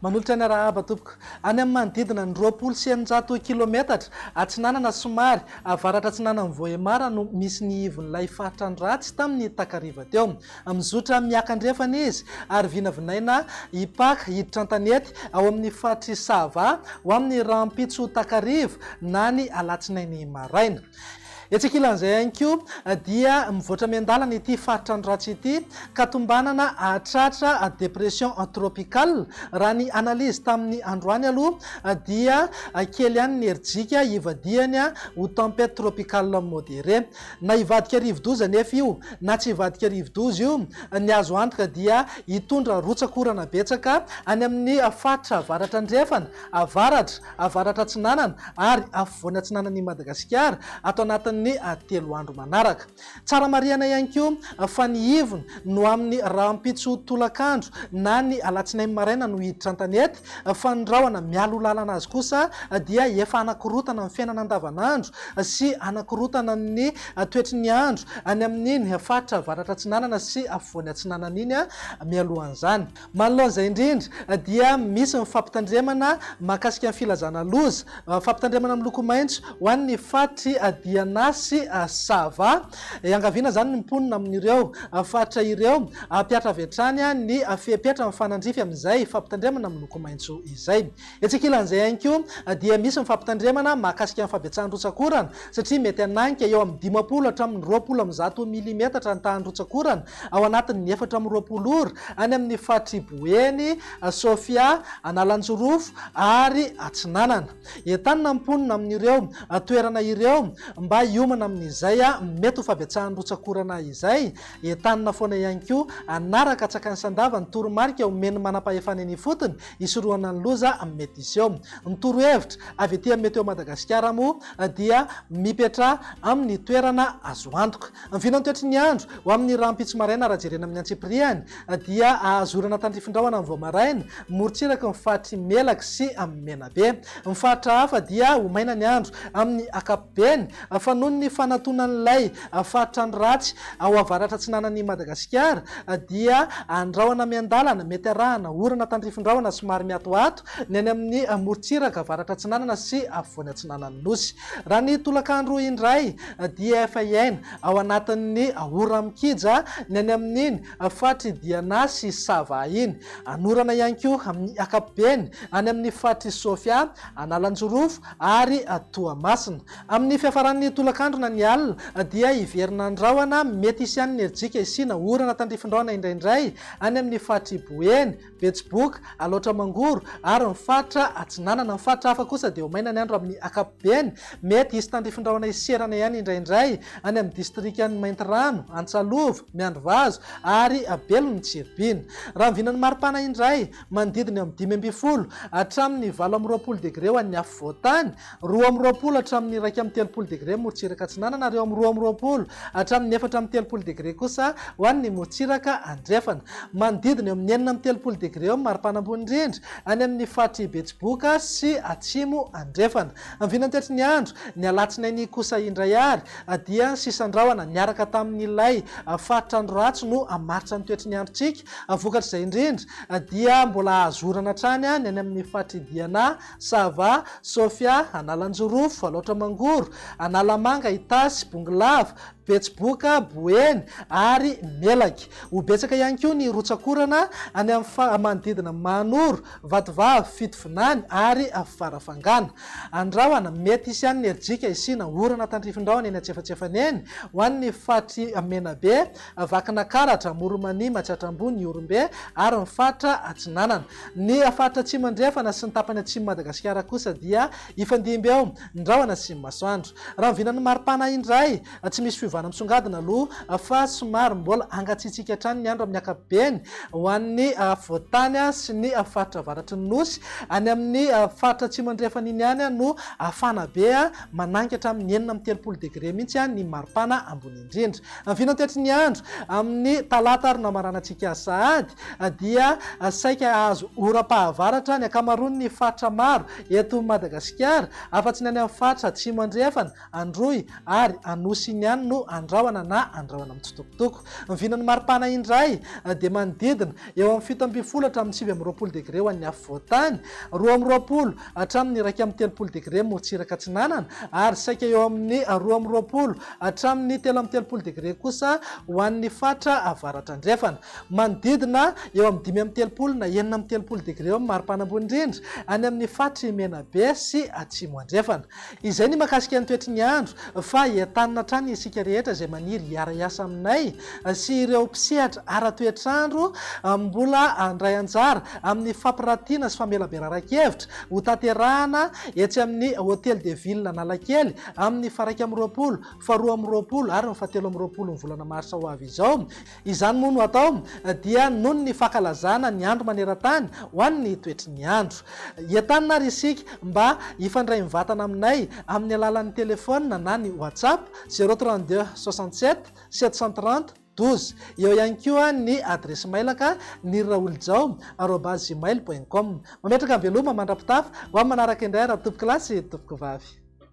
Manolotra ny arahaba tompoko. Any amin'ny manodidina ny roapolo sy eninjato kilometatra atsinanana somary avaratra-atsinanan'i Vohémar no misy ny ivon'ilay faritra ny ratsy tamin'ny takariva teo. Mizotra mihiaka andrefana izy ary vinavinaina hipaka hiditra an-tanety ao amin'ny faritr'i Sava ho amin'ny rahampitso takariva na ny alatsinainy maraina. Etsy ankilan'izay ihany koa dia mivoatra miandalana ity faritra ny ratsy ity ka tombanana hahatratra dépression tropicale. Raha ny analyse tamin'ny androany aloha dia kely ihany ny herijika hivadihany ho tempête tropicale modérée. Na hivadika rivodoza anefa io na tsy hivadika rivodoza io, ny azo antoka dia hitondra rotsak'orana betsaka any amin'ny faritra avaratra andrefana, avaratra, avaratra atsinanana ary afovoany atsinanan'i Madagasikara ato anatin'ny telo andro manaraka. Tsara marihana ihany koa fa ny ivony no amin'ny rahampitso tolakandro na ny alatsinainy maraina no hiditra an-tanety, fa ny rahona mialoha lalana azy kosa dia efa hanakorotana ny fiainana andavanandro sy hanakorotana ny toetry ny andro any amin'iny faritra avaratra atsinanana sy afovoany atsinanana iny mialohan'izany. Manoloana izay indrindra dia misy ny fampitandremana mahakasika ny filazana loza, fampitandremana miloko maitso ho an'ny faritry Diana sy Sava, Iangaviana izany ny mponina amin'ireo faritra ireo hampihatra avy hatrany ny fepetra mifanandrify amin'izay fampitandremana miloko maitso izay. Etsy ankilan'izay ihany koa dia misy ny fampitandremana mahakasika ny fabetsahan'ny rotsak'orana satria mety hananika eo amin'ny dimampolo hatramin'ny roapolo amby zato milimetatra ny tahan'ny rotsak'orana ao anatin'ny efatra amby roapolo ora any amin'ny faritr'i Boeny, Sofia, Analanjirofo ary Atsinanana. Entanina ny mponina amin'ireo toerana ireo mba hiomana amin'izay mety ho fahabetsahan'ny rotsak'orana izay. Entanina foana ihany koa hanaraka an-tsakan'i Sandava ny toromarika omen'ny manampahefana eny ifotony hisorohana ny loza mety hiseho. Ny torohevitra avy ety amin'ny Météo Madagasikara moa dia mipetraha amin'ny toerana azo antoka. Ny vinan'ny toetry ny andro ho amin'ny rahampitso maraina raha jerena amin'ny antsipirihany dia ahazorana tandrifin-drahona amin'ny vao maraina, morontsiraky ny faritry Melaky sy Menabe. Ny faritra hafa dia ho maina ny andro amin'ny ankapobeny fa noho ny fanatonan'ilay faritrandro ratsy ao avaratra-atsinanan'i Madagasikara dia andrahona miandalana mety arahana orana tandrifin-drahona somary miatoato ny any amin'ny morontsiraka avaratra-atsinanana sy afovoany atsinanan'ny Nosy. Raha ny tolakandro indray dia efa hiaina Ao anatin'ny ora mikija ny any amin'iny faritr'i Diana sy Sava iny. Anorana ihany koa amin'ny ankapobeny any amin'ny faritr'i Sofia, Analanjirofo ary Toamasina. Amin'ny fiafaran'ny tolakandro na ny alina dia hiverina ny rahona, mety hisy ihany ny rijika hisiana orana tandrifindraona indraindray any amin'ny faritr'i Boeny, Betsiboka, Alaotra Mangoro ary ny faritra Atsinanana. Ny faritra hafa kosa dia ho maina ny andro amin'ny ankapobeny. Mety hisy tandrify rahona hiserana ihany indraindray any amin'ny distrikan'i Maintirano, Antsalova, Miandrivazo ary Belo ny Tsiribihina. Raha ny vinan'ny maripana indray, manodidina eo amin'ny dimy ambin'ny folo hatramin'ny valo amby roapolo degre ho an'ny afovoan-tany, Roa amby roapolo hatramin'ny iraika amby telopolo degre morotsiraka atsinanana ary eo amin'ny roa amby roapolo hatramin'ny efatra amby telopolo degre kosa ho an'ny morotsiraka andrefana. Manodidina eo amin'ny enina amby telopolo degre eo ny maripana ambony indrindra any amin'ny faritr'i Betsiboka sy Atsimo Andrefana. Vinantetry ny andro, ny alatsinainy kosa indray ary dia sisan-drahona niaraka tamin'ilay faritra andro ratsy no hamaritra ny toetry ny androntsika. Vokatr'izay indrindra dia mbola hahazo orana hatrany ny any amin'ny faritr'i Diana Sava, Sofia, Analanjorofo, Alaotra-Mangoro, Analamanga, Itasy, Bongolava, Betsiboka, Boeny ary Melaky. Ho betsaka ihany koa ny rotsak'orana any amin'ny manodidina Mahanoro, Vatovavy, Fitovinany ary Farafangana. Andrahona, Mety hisy ihany ny herijika hisiana orana tandrifindraony eny antsefatsefany eny ho an'ny faritry Menabe, Vakina karatra, Amoromanimatra hatrambony, Ihorombe ary ny faritra atsinanana. Ny faritra atsimo-andrefana sy ny tapany atsimon'i Madagasikara kosa dia hifandimby eo, ny rahona sy ny masoandro. Raha ny vinan'ny maripana indray, tsy misy fiovana misongadina aloha fa somary mbola hangatsiatsiaka hatrany ny andro amin'ny ankapobeny ho an'ny afovoan-tany sy ny faritra avaratry ny Nosy. Any amin'ny faritra atsimo-andrefana iny ihany no hafana be, manangatra amin'ny enina amby telopolo degre mihitsy ny maripana ambony indrindra. indrindra. Ny vinantiatry ny andro amin'ny talata ary namaranantsika sahady dia saika hahazo oram-pahavaratra ny ankamaroan'ny faritra maro eto Madagasikara afa-tsy ny any amin'ny faritra atsimo andrefana, Androy ary Anosy iny ihany no andrahona na andrahona mitsitokotoko. Ny vinan'ny maripana indray dia manodidina eo amin'ny fito ambin'ny folo hatramin'ny sivy amby roapolo degre ho an'ny afovoan-tany, roa amby roapolo hatramin'ny iraika amby telopolo degre morotsiraka atsinanana ary saika eo amin'ny roa amby roapolo hatramin'ny telo amby telopolo degre kosa ho an'ny faritra avaratra-andrefana. Manodidina eo amin'ny dimy amby telopolo na enina amby telopolo degre eo amin'ny mari-panambony indrindra any amin'ny faritr'i Menabe sy Atsimo-andrefana. Izay ny mahakasika ny toetry ny andro, fa entanina hatrany isika rehetra izay maniry hiara-hiasa aminay sy ireo mpisehatra ara-toetr'andro mbola handray anjara amin'ny fampirantiana sy famelaberaran-kevitra hotanterahana etsy amin'ny Hôtel de Ville Analakely amin'ny faraika amby roapolo, faharoa amby roapolo ary ny fahatelo amby roapolon'ny volana marsa ho avy izao. Izany moa no atao dia noho ny fankalazana ny andro maneran-tany ho an'ny toetry ny andro. Entanina ary isika mba hifandray mivatana aminay amin'ny alalan'ny telefaonina na ny WhatsApp, zéro trente deux soixante sept sept cent trente douze. Eo ihany koa ny adiresy mailaka niriraolijao arobase gmail point com. Mametraka veloma mandra-pitafa ho amin'ny manaraka indray Ratobokolahy sy Tompokovavy.